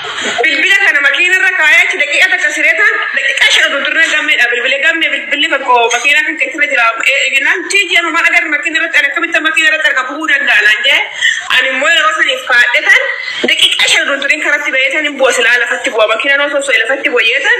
Bilbila kana makiina irra kaayee achi daqiiqa takka siree taan daqiiqa shan oduu turre gammeedha bilbile gamme bilbilli tokko makiina kan keessirra jira eeginaan tiiji amma maal agarra makiina irratti ani akkamitti makiina irratti arga bu'uu danda'a naan jee ani immoo yeroo saniif kaadhe taan daqiiqa shan oduu turin karatti ba'ee taan hin bu'a silaa lafatti bu'a makiina noo sosso'e lafatti bu'a jee taan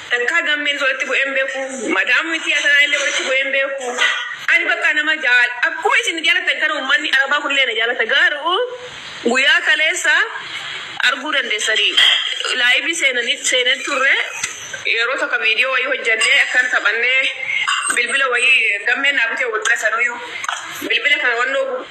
Takkaa gammees walitti bu'ee hin beeku. Madaam mitii atanaa illee walitti bu'ee hin beeku. Ani bakka nama jaal akkuma isin na jaalatan kana ummanni arabaa kunillee na jaalata gaaruu guyyaa kaleessa arguu dandeessani laayivii seenanii seenee turre yeroo tokko viidiyoo wayii hojjannee akkan taphannee bilbila wayii gammeen naa bitee wal bira sanuuyuu bilbila kana wannoo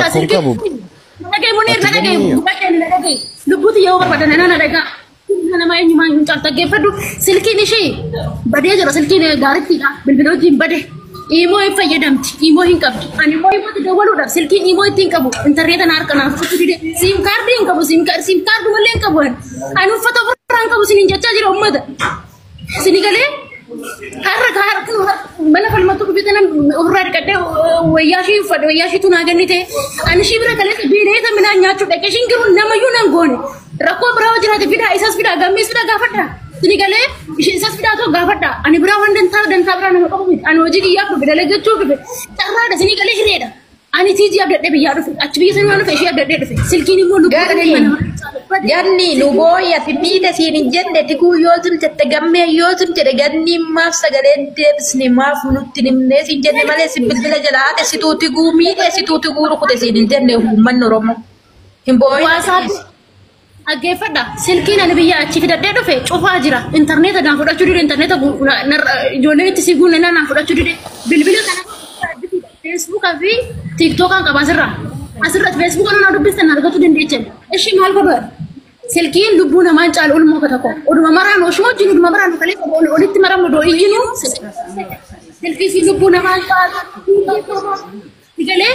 rakkoon qabu. Nadhagee Muniir nadhagee gubbaa keenya nadhagee lubbuuti yoo barbaadan nana nadhagaa. Nama eenyumaa hin caal dhaggeeffadhu silkiin ishee badee jira silkiin gaariittiidha bilbila wajjin bade imoo hin fayyadamti imoo hin qabdi ani immoo imootti dawwaluudhaaf silkiin imoo itti hin qabu intarneeta na harka naaf kutu dide siim kaardii hin qabu siim kaardii malee hin qabu ani uffata ofirraa hin qabu sin hin jechaa jira ummata. Sini galee har'a gaara kun mana falmattuu dubbite nan ofirraa dhiqadhee wayyaa ishee uffadhe wayyaa isheetu naa kennite ani ishii bira galee beela'eeta midhaan nyaachuu dhaqe ishiin garuu namayyuu nan goone rakkoo biraa yoo jiraate fidaa isas fidaa gammees fidaa gaafadha sini galee ishee isas fidaa too gaafadha ani biraa waan dantaa dantaa biraa nama qabu miti ani hojii kiyyaaf dhufe dalagachuu dhufe carraadha sini galee hireedha Ani tiijii abdadhee biyyaa dhufe. Achi biyya sana waan dhufe ishee abdadhee dhufe. Silkiin immoo lubbuu Ganni. dhabee mana mana Ganni lubooya fiddiida siin hin jenne diguu yoo tun jette gammee yoo tun jedhe ganni maaf sagalee hin deebisne maaf nutti hin himne siin jenne malee si bilbila jala haate situu tiguu miidhe situu tiguu rukute siin hin jenne uummanni Oromoo. Hin boo'in. Waasaappi Dhaggeeffadha. Silkiin ani biyya achi fidadhee dhufe cufaa jira. Intarneeta naan fudhachuu dide intarneeta gu- na- narra- ijoolleen itti sii guunne naan fudhachuu dide. Bilbila kana feesbuukaa fi tiiktookaan qaba asirra. Asirratti feesbuukaan naan dubbistan na argachuu dandeechan. Ishi maal godhu? Silkiin lubbuu namaan caalu ulmoo tokko. Oduma maraan oshuma wajjin oduma maraan kalee qabu ol- olitti maramnu doo iyyinu. Silkiin lubbuu namaan caalu. Galee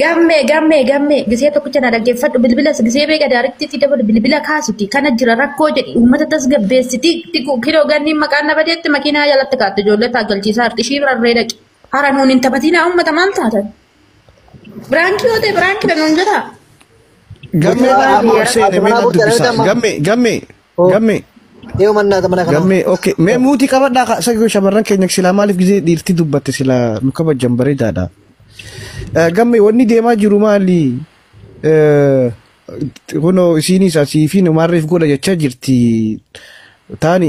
Gamme gamme gamme gisee tokkicha na dhaggeeffadhu bilbila gisee beeka daariktiitti dabalu bilbila kaasiti kana jira rakkoo jedhi uummata tasgabbeessiti tiku kiloo ganniin maqaan na badeetti makiinaa jalatti kaatte ijoollee taaggalchiisaa harxishii rarree dhaqi hara nuun hin taphatinaa uummata maal taatan biraankii yoo ta'e biraankii dha nuun jedhaa. Gammee Gammee manaa biyya boorsee rakkoo deemee manaa nan boorsee dubbisaa. deemee Gammee gammee. Hoo. Gammee. Yoo mannaa gamana kana. Gammee okay. Mee muutii qabadhaa ka- isa yoo shamarran keenya silaa maaliif gizee dhiirti dubbatte silaa nu kabajan bareedaadha. Eh, Gammee wanni deemaa jiru maali? Eh, Kunoo isiinis asii fi numaarreef godha jechaa jirti. Taani